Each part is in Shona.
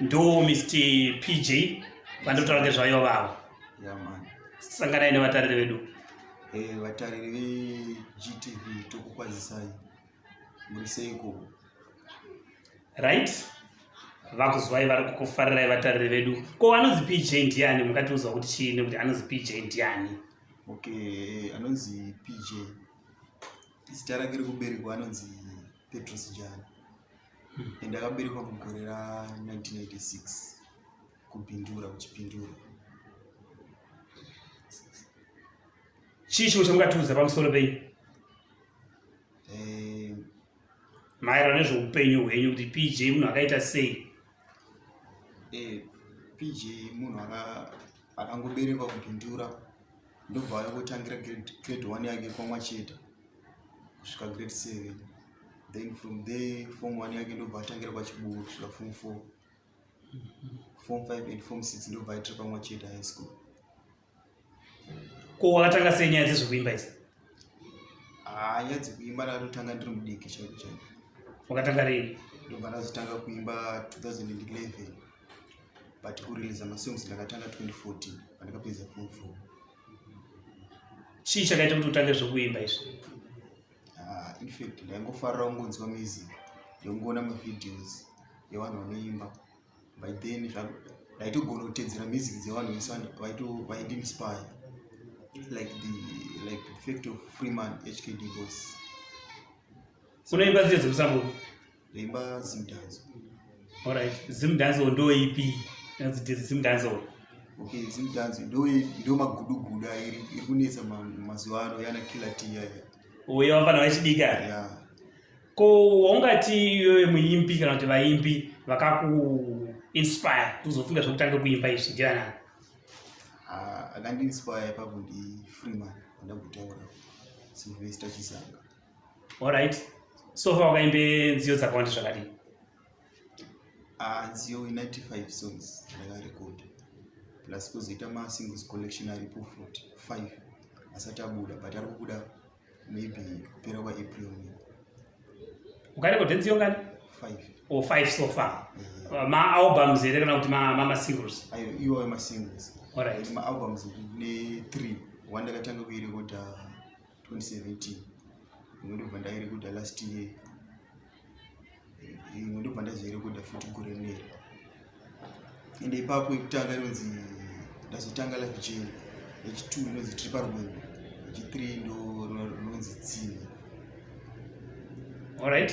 ndo mr pj vandotaura ngezvayo vavo sanganai nevatariri vedu eh, vatariri vegtv tokukwazisai muri seiko right vakuzwai vari kukufarirai vatariri vedu ko anonzi pj ndiani mungatiudzwa kuti chii nekuti anonzi pj ndiani okay eh, anonzi pj zita rake rekuberekwa anonzi petros jani hmm. and akaberekwa mugore ra1986 kupindura kuchipindura chii chimwe chamungatiudza pamusoro penyu eh, maererano nezveupenyu hwenyu kuti pj munhu akaita sei eh, pj munhu akangoberekwa kupindura ndobva ave kutangira grade one yake kwamwacheta kusvika grade seven then from there form one yake ndobva atangira kwachiburu kusvika form four form five and form six ndobva aitira kwamwacheta high school ko wakatanga sei nyaya dzezvekuimba idzi haa ah, nyaya dzekuimba ndatotanga ndiri mudiki chaiko chaiko wakatanga rini ndobva ndazotanga kuimba 2011 but kureleasa masongs ndakatanga 2014 pandakapedza form four chii chakaita kuti utange zvekuimba izvi ah, infact ndaingofarira kungonzwa music ndongoona mavideos evanhu vanoimba by then ndaitogona kutedzera music dzevanhu vese vaindiinspire like the like the fact of freeman hkd bos unoimba dziye dzemusambuko Rimba Zim Dance. All right, Zim Dance ndo ipi? That's the Zim Dance. Okay, Zim Dance ndo ndo magudugudu iri iri kunetsa mazuva ano yana killer tea yaya. Uyo vafana vachidika. Yeah. Ko waungati iwe muimbi kana kuti vaimbi vakaku inspire kuzofunga zvekutanga kuimba izvi ndiana? Ah, akandiinspire ipapo ndi Freeman ndakutaura. Sylvester Chisanga. Alright. So far wakaimbe nziyo dzakawanda zvakadii? Ah, nziyo 95 songs ndakarekoda. Plus kuzoita ma singles collection aripo 45 asati abuda but ari kubuda maybe kupera kwa April. Ukarekoda nziyo ngani? 5. Or 5 so far. Mm -hmm. Uh, ma albums here kana kuti ma ma, ma singles? Ayo, iwo ma singles. Alright. Ma albums ne 3. Wanda katanga kuirekoda 2017 imwe ndobva ndairekoda last year imwe ndobva ndazoirekoda futi gore rineri ende ipapo yekutanga inonzi ndazotanga life jane yechitwo inonzi tiri parwendo yechithree ndo rinonzi tsime allright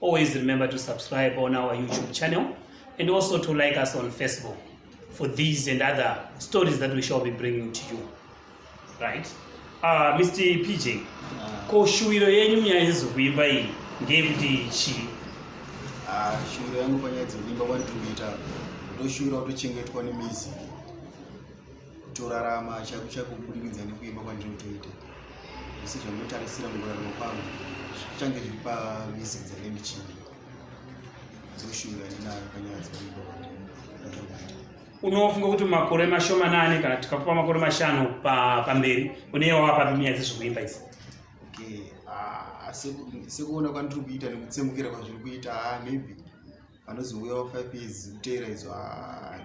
Always remember to subscribe on our YouTube channel and also to like us on Facebook for these and other stories that we shall be bringing to you. Right? Uh, ah, Mr. PJ, ah. ko shuwiro yenyu munyaya dzekuimba iyi ngeyekuti chii? Ah, shuwiro yangu panyaya dzekuimba kwandiri kuita ndoshuwira kutochengetwa nemizi torarama chaiko chaiko kubudikidza nekuimba kwandiri kutoita zvese zvandinotarisira mukurarama kwangu zvichange zviri pamisic dzange ndichiimba dzoshuvira ndinayo panyaya dzekuimba kwandiri unofunga kuti makore mashomanani kana tikakupa makore mashanu pamberi uneye wava papi munyaya dzezvekuimba idzi ah, sekuona kwandiri kuita nekutsemukira kwazviri kuita ah, maybe vanozouyawo five years kuteera idzo ah,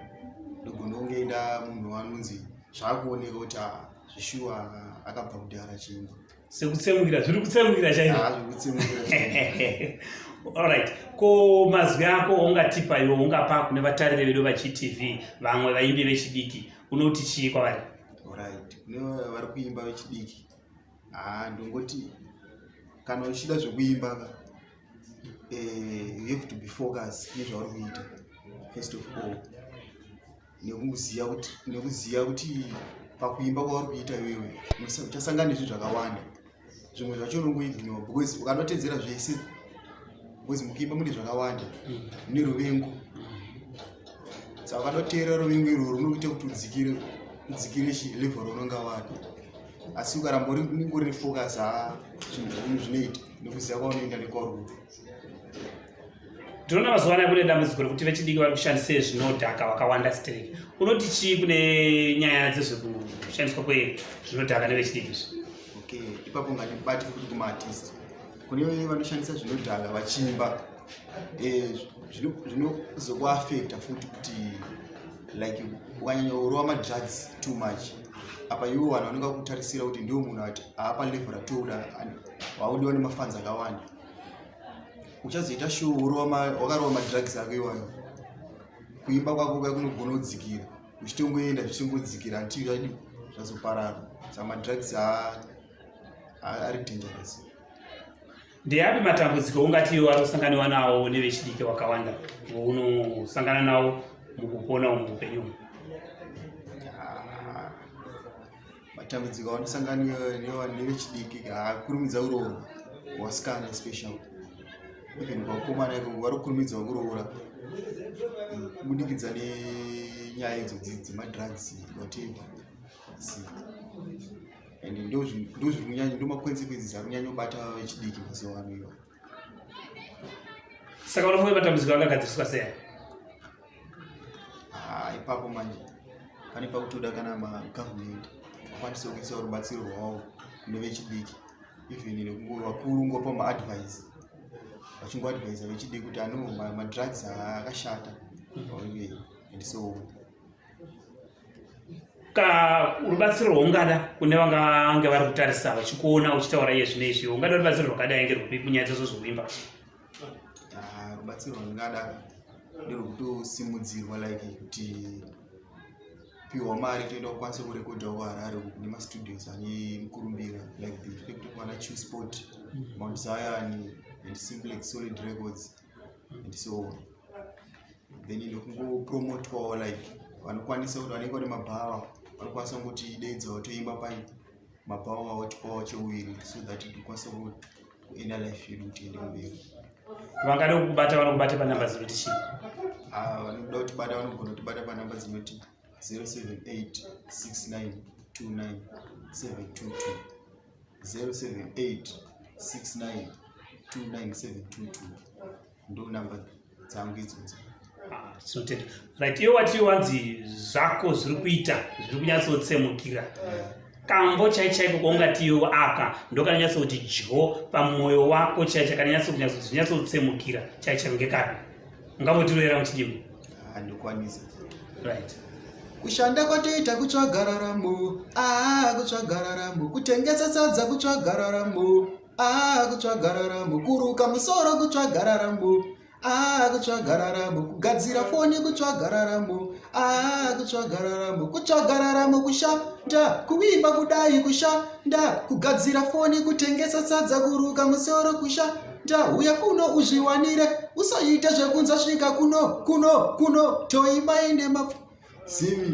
ndogona kunge enda munhu wanonzi zvaakuoneka kuti ah, zvishuwa ah, akabva kudhara chimba sekutsemukira zviri kutsemukira chaizvoalright ko mazwi ako waungatipa iwo ungapa kune vatariri vedu vachitv vamwe vaimbi vechidiki unoti chii kwavari orit kune vari kuimba vechidiki haa ndongoti kana uchida zvekuimba ka eh, you have to be focus nezvauri kuita first of all nekuziva kuti nekuziva kuti pakuimba kwauri kuita iwewe uchasangana nezvinhu zvakawanda zvimwe zvacho unongoignore because ukanotedzera zvese because mukuimba mune zvakawanda mm. neruvengo saka ukanoteera ruvengo irwo runokuita kuti udzikire udzikire chi level raunonga wako asi ukaramba uri nefocus ha zvinhu zvinhu zvinoita nekuziva kwaunoenda nekwauri tinoona mazuva anaya kune dambudziko rekuti vechidiki vari kushandisa zvinodhaka vakawanda strek unoti chii kune nyaya dzezvekushandiswa kwezvinodhaka nevechidiki izvi okay ipapo ngatibati futi kumaartist kune vanoshandisa zvinodhaka vachimba eh, zvinozokuafekta futi kuti like ukanyanya urova madrugs too much apa iwo vanhu vanenge vakutarisira kuti ndiwo munhu ati aapa level ratooda waudiwa nemafanzi akawanda uchazoita shuo wakarova madrugs ako iwayo kuimba kwako ka kunogona kudzikira uchitongoenda zvichingodzikira until zvadi zvazoparara samadrugs haa ari dangerous ndeapi matambudziko ungati iwe wari kusanganiwa nawo nevechidiki wakawanda unosangana nawo mukupona umu upenyu umu ah, matambudziko aonosanganiwa nevechidiki akurumidza kuroora wasikana especially even vakomana iko vari kukurumidza kuroora mm, kubudikidza nenyaya idzo dzemadrugs whatever and ndozviri kunyanya ndomakonsekwenzi ari kunyanya kubata vechidiki mazuva ano iwa saka unofunga matambudziko angagadziriswa sei ah, ipapo manje pane pakutoda kana magovernment akwanise kuisa rubatsiro rwawo kune vechidiki even nekungo vakuru ngopa maadvise vachingoadvisa vechidiki kuti ano madrugs akashata mm -hmm. and so on ka rubatsiro rwaungada kune vangange vari kutarisa vachikuona uchitaura iye zvine izvi ungada rubatsiro rwakadai nge rwupi munyaya dzazvo zvokuimba ah, rubatsiro rwandingada nderwekutosimudzirwa like kuti piwa mari toenda kukwanisa kurekodha kuharare nemastudios ane mukurumbira like the effect of ana chew sport mm. mount zion and simplex solid records and so then ndokungopromotwawo like vanokwanisa kuti vanenge vane mabhawa vanokwanisa kuti deedza watoimba pai mabhawa wavo tipawo cheuviri so that tikwanisa kuenda life yedu kuti ende mberi vangada kukubata vanokubata panamba dzinoti chii ah, vanoda kutibata vanogona kutibata panamba dzinoti 078 69 29 722 0786929722 ndo number dzangu idzodzo tinotenda ah, right iwe wati wanzi zvako zviri kuita zviri kunyatsotsemukira kambo chai chaiko kwaungatiwo aka ndokananyatsa kuti dyo pamwoyo wako chai chakananyatsa kunyatsotsemukira chai chaiko ngekapi Ungamotiroera muchidimo? Handikwanisa. Ah, right. Kushanda kwatoita kutsvaga raramo, ah kutsvaga raramo, kutengesa sadza kutsvaga raramo, ah kutsvaga raramo, kuruka musoro kutsvaga raramo, ah kutsvaga raramo, kugadzira foni kutsvaga raramo, ah kutsvaga raramo, kutsvaga raramo kushanda, kuimba kudai kushanda, kugadzira foni, kutengesa sadza, kuruka musoro kushanda Tahuya kuno uzviwanire, usaite zvekunza svika kuno, kuno, kuno, toimba ine mapfu. Zimi.